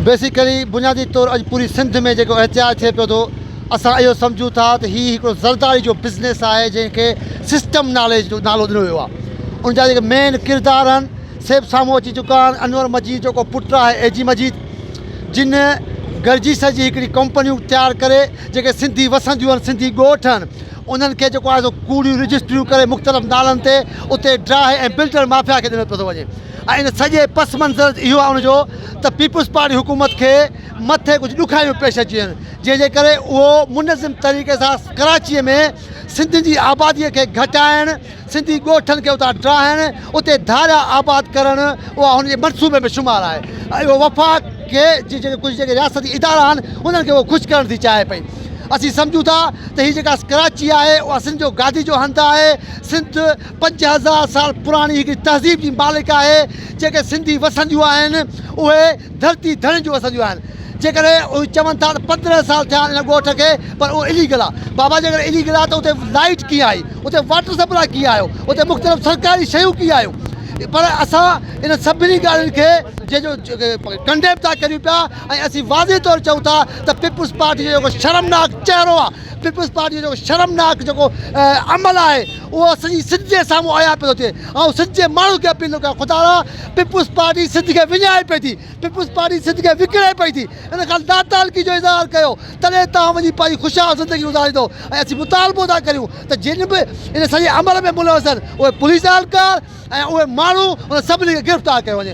Basically بنيادي طور اڄ پوري سنڌ ۾ جيڪو احتجاج ٿئي پيو ٿو اسان اهو سمجهون ٿا ته هي هڪڙو زرداري جو بزنس آهي جنهن کي سسٽم ناليج جو نالو ڏنو ويو آهي ان جا جيڪي مين ڪردار آهن سي به سامهون اچي چڪا آهن انور مجيد جو ڪو پٽ آهي اي جي مجيد جن گڏجي سڄي هڪڙي ڪمپنيون تيار ڪري جيڪي سنڌي وسنديون آهن سنڌي ڳوٺ آهن انهن کي جيڪو آهي سو ڪوڙيون رجسٽريون ڪري مختلف نالن تي اتي ڊاهه ۽ بلڊر مافيا کي ڏنو پيو ٿو وڃي ۽ ان سڄي پس منظر اهو آڻ جو ته پيپلز پارٽي حڪومت کي مٿي ڪجهه ڏکايون پيش اچين جنهن جي ڪري اهو منظم طريقي سان ڪراچي ۾ سنڌين جي آبادي کي گهٽائڻ سنڌي ڳوٺن کي اتان ڊاهڻ اتي ڌاريا آباد ڪرڻ اها هن جي منصوبي ۾ شمار آهي اهو وفاق کي جي جيڪي ڪجهه جيڪي رياستي ادارا آهن انهن کي اهو خوش ڪرڻ ٿي چاهي پئي اسين سمجهون ٿا ته هي جيڪا ڪراچي آهي اها سنڌ جو گادي جو هنڌ آهي سنڌ پنج هزار سال پراڻي هڪڙي تهذيب جي مالڪ آهي جيڪي سنڌي وسنديون آهن اهي ڌرتي ڌڻين جون وسنديون آهن جيڪڏهن اهي چون ٿا ته پندرهن سال ٿيا آهن ان ڳوٺ کي پر اهو اليگل آهي بابا جيڪڏهن اليگل آهي ته اتي لائيٽ ڪيئن آئي اتي واٽر سپلاء ڪيئن آيو اتي مختلف سرڪاري شيون ڪيئن آيون پر اسان ان سڀني ڳالهين کي جنهن جو ڪنڊيم ٿا ڪريون پيا ۽ اسين واضح طور چئون ٿا ته پيپلز پارٽي جو جيڪو شرمناڪ چهرو آهي پيپلز پارٽي جو جيڪو شرمناڪ جيڪو عمل آهي اهو سڄي سنڌ جي سامهون عيان پيو ٿو ٿئي. آئون سنڌ جي ماڻهن کي اپيل ٿو ڪريان خدا را پيپلز پارٽي سنڌ کي وڃائي پئي ٿي. پيپلز پارٽي سنڌ کي وڪڻي پئي ٿي. ان کان ناتعلقي جو اظهار ڪيو تڏهن توهان وڃي پنهنجي خوشحال زندگي گذاريندو ۽ اسين مطالبو ٿا ڪريون ته جن به ان سڄي عمل ۾ ملوث آهن اهي پوليس اهلڪار ۽ اهي ماڻهو انهن سڀني کي گرفتار ڪيو وڃي.